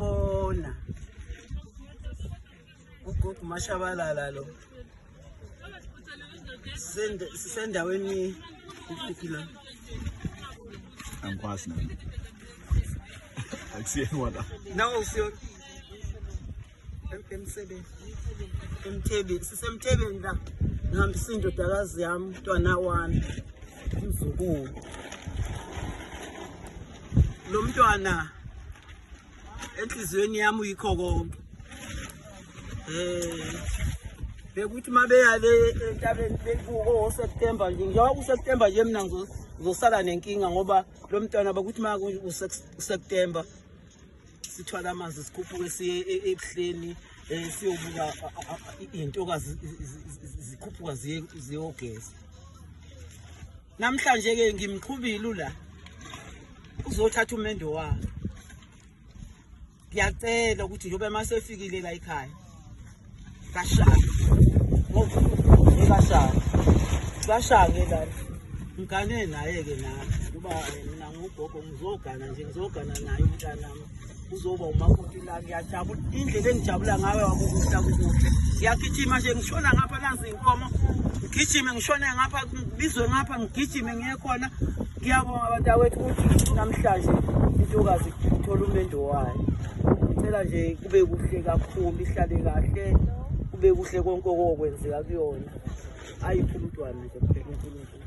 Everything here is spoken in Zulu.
Bona. Ugogo Mashabalala lo. Sisendaweni kuphi la? Angikwazi nami. Akusiyona la. Nawo usiyona. emsebeni emthebeni sisemthebeni la ngihambisa indodakazi yami umntwana wami umzukulu lo mntwana enhliziyweni yami uyikho konke um bekuthi uma beya le entabeni bekuko-september nje njengoba kuseptember nje mina ngizosala nenkinga ngoba lo mntwana bakuthi uma useptember sithwala amanzi sikhuphuke siye e, e, ebuhleni um siyobuka iy'ntokazi zikhuphuka ziyogeza namhlanje ke ngimqhubile ula uzothatha umendo wakhe ngiyacela ukuthi njoba masefikile la ekhaya kashaya ngokashaya kashaya la ngigane naye ke nami kuba mina ngugogo ngizogana nje ngizogana naye umntanami uzoba umakoti la ngiyajabula indlela engijabula ngayo wakukuhla kukuhle ngiyagijima nje ngishona ngapha nazi inkomo ngigijime ngishone ngapha ngibizwe ngapha ngigijime ngiye khona ngiyabonga badawethu ukuthi namhlanje intokazi ithola umendo wayo ngicela nje kube kuhle kakhulu ihlale kahle kube kuhle konke okokwenzeka kuyona ayiphumntwana nje kuphela unkulunkulu